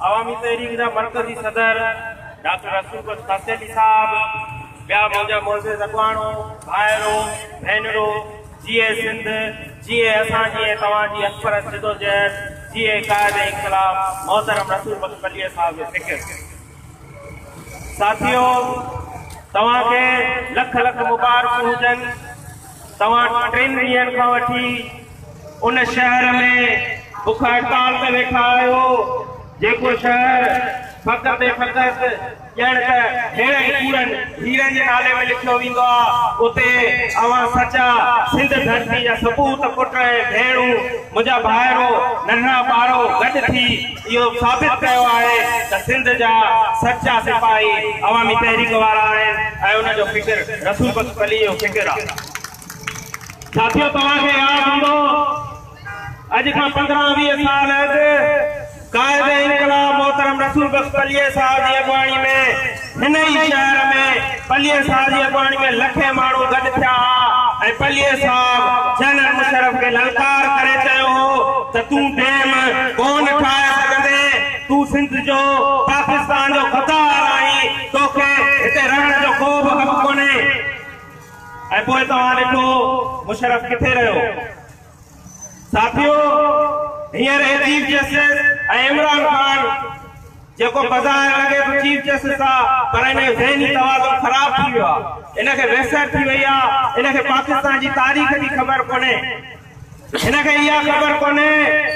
عوامي تحريڪ جا مرڪزي صدر ڊاڪٽر رسول بخش خاصيلي صاحب ٻيا منهنجا معزز اڳواڻو ڀائرو ڀينرو جي اي سنڌ جي اي اسان جي اي توهان جي اڪبر جدوجهد جي اي قائد انقلاب محترم رسول بخش پلير صاحب جو فڪر ساٿيو توهان کي لک لک مبارڪون هجن توهان ٽن ڏينهن کان وٺي ان شهر ۾ بک هڙتال تي ويٺا آهيو، جيڪو شهر فقط ۽ فقط ڄڻ ته هيڻن ڪوڙن هيرن جي نالي ۾ لکيو ويندو آ، اتي اوهان سچا سنڌ ڌرتي جا سپوت، پٽ ۽ ڀيڻون، منهنجا ڀائرو، ننڍڙا ٻارو گڏ ٿي اهو ثابت ڪيو آهي ته سنڌ جا سچا سپاهي عوامي تحريڪ وارا آهن ۽ ان جو فڪر رسول بخش پليجي جو فڪر آهي. ساٿيو توهان کي ياد هوندو اڄ کان پندرهن ويهه سال اڳ قائد انقلاب محترم رسول بخش پليجي صاحب جي اڳواڻي ۾ هن ئي شهر ۾ پليء صاحب جي اڳواڻي ۾ لکين ماڻهو گڏ ٿيا ها ۽ پليء صاحب جنرل مشرف کي للڪار ڪري چيو هو ته تون ڊيم ڪونه ٺاهي سگهندين، تون سنڌ جو پاڪستان جو غدار آهين، توکي هتي رهڻ جو ڪو به حق ڪونهي. ۽ پوء توهان ڏٺو مشرف ڪٿي رهيو. ساٿيو هينئر هي چيف جسٽس ۽ عمران خان جيڪو بظاهر لڳي ٿو چيف جسٽس آ پر ان جو ذهني توازن خراب ٿي ويو آ ان کي ويسر ٿي وئي آ ان کي پاڪستان جي تاريخ جي خبر ڪونهي هن کي اها خبر ڪونهي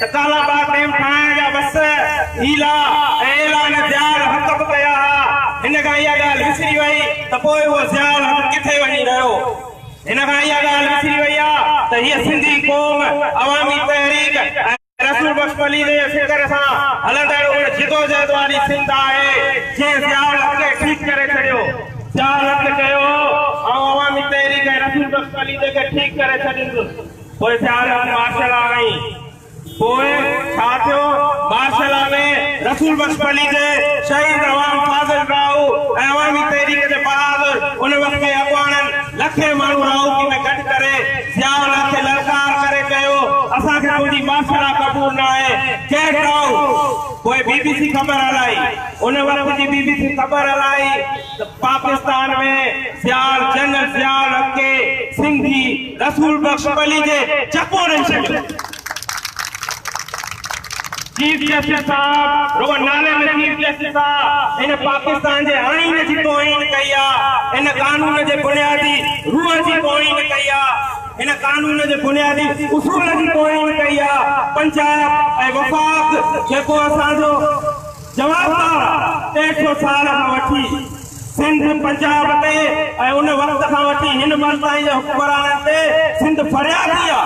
ته ڪالا باغ ڊيم ٺاهڻ جا وس هيلا ۽ اعلان ضياء الحق به ڪيا ها هن کان اها ڳالهه وسري وئي ته پوء اهو ضياء الحق ڪٿي وڃي رهيو ان کان اها ڳالهه وسري وئي آهي ته هيء سنڌي قوم عوامي تحريڪ ۽ رسول بخش پليجي جي فڪر سان هلندڙ ان جدوجهد واري سنڌ آهي جنهن ضياء الحق کي ٺيڪ ڪري ڇڏيو. ضياء الحق چيو هو، آئون عوامي تحريڪ ۽ رسول بخش پليجي کي ٺيڪ ڪري ڇڏيندس. پوء ضياء الحق مارشل آ ۽ پوء ڇا ٿيو؟ مارشل لا ۾ رسول بخش پليجي، شهيد عوام فاضل راهو ۽ عوامي تحريڪ جي بهادر ان وقت جي اڳواڻن لکين ماڻهو راهوڪي ۾ گڏ ڪري ضياء الحق کي للڪار ڪري چيو، اسان کي تنهنجي مارشل لا قبول ناهي، Get out! پوء بي بي سي خبر هلائي. ان وقت جي بي بي سي خبر هلائي. ته پاڪستان ۾ سيال جنرل ضياء الحق کي سنڌي رسول بخش پليجي جپو ڏئي ڇڏيو. چيف جسٽس صاحب رڳو نالي ۾ چيف جسٽس آ، هن پاڪستان جي آئين جي توهين ڪئي آ، هن قانون جي بنيادي روح جي توهين ڪئي آ، هن قانون جي بنيادي اصول جي توهين ڪئي آ، پنجاب ۽ وفاق جيڪو اسان جو. جواب طور ٽيهه سؤ سال کان وٺي سنڌ، پنجاب، تي ۽ ان وقت کان وٺي هن ملڪ تائين جي حڪمرانن تي سنڌ فريادي آ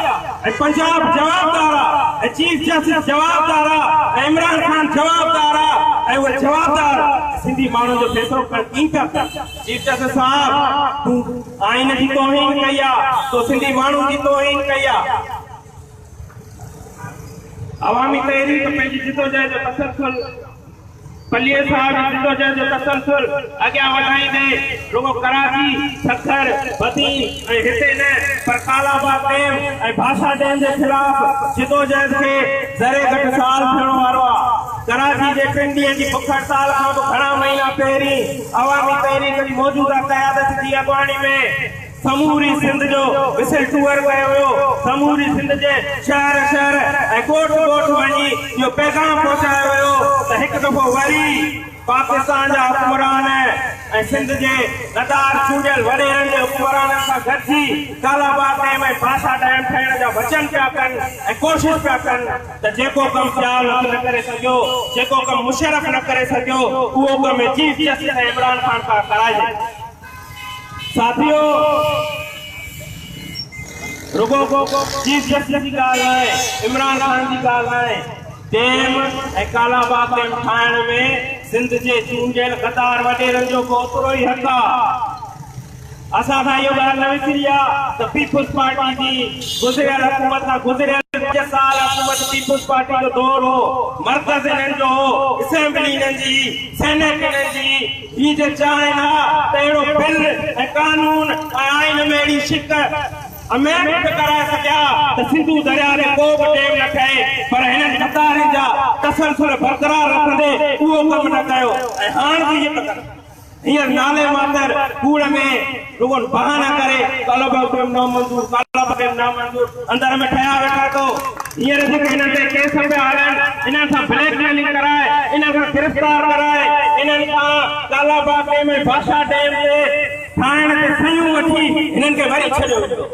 ۽ پنجاب جوابدار آ ۽ چيف جسٽس جوابدار آ ۽ عمران خان جوابدار آ ۽ اهي جوابدار سنڌي ماڻهن جو فيصلو ڪرڻ ڪين ٿا چاهين. چيف جسٽس صاحب تون آئين جي توهين ڪئي آ، تو سنڌي ماڻهن جي توهين ڪئي آ. عوامي تحريڪ پنهنجي جدوجهد جو تسلسل پليجي صاحب جي جدوجهد جو تسلسل اڳيان وڌائيندي رڳو ڪراچي، سکر، بدين ۽ هتي نه پر ڪالاباغ ڊيم ۽ ڀاشا ڊيم جي خلاف جدوجهد کي ذري گهٽ سال ٿيڻو وارو آ. ڪراچي جي ٽن ڏينهن جي بک هڙتال کان به گهڻا مهينا پهرين عوامي تحريڪ جي موجوده قيادت جي اڳواڻي ۾ سموري سنڌ جو وسل ٽوئر ڪيو ويو، سموري سنڌ جي شهر شهر ۽ ڳوٺ ڳوٺ وڃي اهو پيغام پهچايو ويو ته هڪ دفعو وري پاڪستان جا حڪمران ۽ سنڌ جي ندار چونڊيل وڏيرن جي حڪمرانن سان گڏجي ڪالاباغ ڊيم ۽ باسا ڊيم ٺاهڻ جا وچن پيا ڪن ۽ ڪوشش پيا ڪن ته جيڪو ڪم ضياء الحق نه ڪري سگهيو، جيڪو ڪم مشرف نه ڪري سگهيو اهو ڪم چيف جسٽس ۽ عمران خان پاران ڪرائجي. ساٿيو رڳو چيف جسٽس جي ڳالهه ناهي عمران خان جي ڳالهه ناهي ڊيم ۽ ڪالا باغ ڊيم ٺاهڻ ۾ سنڌ جي چونڊيل غدار وڏيرن جو به اوترو ئي حق آهي اسان کان اهو ڳالهه نه وسري آ ته پيپلز پارٽي جي گذريل حڪومت کان گذريل پنج سال حڪومت پيپلز پارٽي جو دور هو مرڪز انهن جو هو اسيمبلي انهن جي سينيٽ انهن جي هي جي چاهين ها ته اهڙو بل ۽ قانون ۽ آئين ۾ اهڙي شق امينڊ به ڪرائي سگهيا ته سنڌو درياء تي ڪو به ڊيم نه ٺهي پر هنن غدارين جا تسلسل برقرار رکندي اهو ڪم نه ڪيو ۽ هاڻ به ائين ٿا ڪن. هينئر نالي ماتر ڪوڙ ۾ رڳو بهانا ڪري طلب به نامنظور طلب به نامنظور اندر ۾ ٺهيا ويٺا ٿو هينئر جيڪي هنن تي ڪيس پيا هلن انهن سان بليڪ ميلنگ ڪرائي انهن کان گرفتار ڪرائي انهن کان ڪالا باغ ڊيم ۽ بادشاهه ڊيم تي ٺاهڻ تي صحيحون وٺي هنن کي وري ڇڏيو ويندو.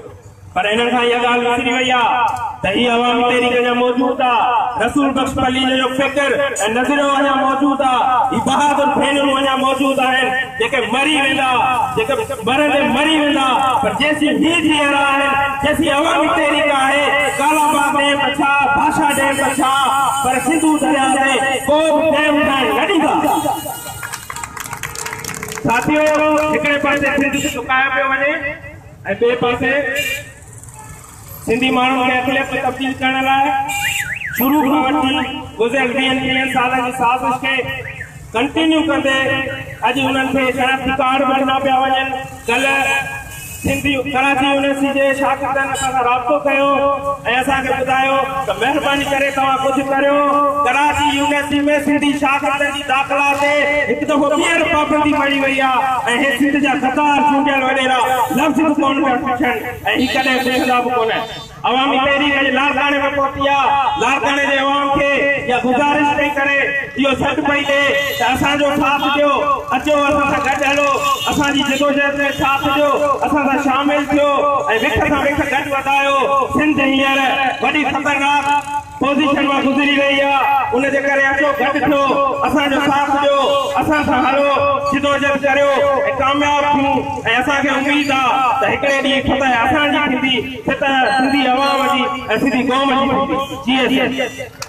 پر انهن کان اها ڳالهه وسري وئي آ ته هي عوامي تحريڪ اڃا موجود آ، رسول بخش پليجي جو فڪر ۽ نظريو اڃا موجود آ، هي بهادر ڀينرون اڃا موجود آهن، جيڪي مري ويندا، جيڪي مرندي مري ويندا، پر جيسين هي جيئرا آهن، جيسين عوامي تحريڪ آهي، ڪالا باغ ڊيم ته ڇا، ڀاشا ڊيم ته ڇا، پر سنڌو درياء تي ڪو به ڊيم ٺهڻ نه ڏيندا. ساٿيو! هڪڙي پاسي سنڌ کي سڪايو پيو وڃي، ۽ ٻئي پاسي سنڌي ماڻهن کي اقليت ۾ تبديل ڪرڻ لاء شروع کان وٺي گذريل ويهن ٽيهن سالن جي سازش کي ڪنٽينيو ڪندي اڄ انهن کي شناختي ڪارڊ به ڏنا پيا وڃن ڪلهه سنڌي ڪراچي يونيورسٽي جي شاگردن اسان سان رابطو ڪيو ۽ اسان کي ٻڌايو ته مهرباني ڪري توهان ڪجهه ڪريو ڪراچي يونيورسٽي ۾ سنڌي شاگردن داخلا تي هڪ دفعو ٻيهر پابندي مڙهي وئي آهي ۽ هي سنڌ جا ستار چونڊيل وڏيرا لفظ به ڪونه پيا پڇن ۽ هي ڪڏهن پڇندا به ڪونه. عوامي تحريڪ اڄ لاڙڪاڻي ۾ پهتي آهي، لاڙڪاڻي جي عوام کي اها گذارش پئي ڪري، اهو سڏ پئي ڏئي ته اسان جو ساٿ ڏيو، اچو اسان سان گڏ هلو، اسان جي جدوجهد ۾ ساٿ ڏيو، اسان سان شامل ٿيو ۽ وک سان وک گڏ وڌايو، سنڌ هينئر وڏي خطرناڪ. پوزيشن مان گذري ويئي آ ان جي ڪري اچو گڏ ٿيو اسان جو ساٿ ڏيو اسان سان هلو جدوجھد ڪريو ۽ ڪامياب ٿيون ۽ اسان کي اميد آ ته هڪڙي ڏينهن فتح اسان جي ٿيندي فتح سنڌي عوام جي ۽ سنڌي قوم جي ٿيندي جي ايس ايس.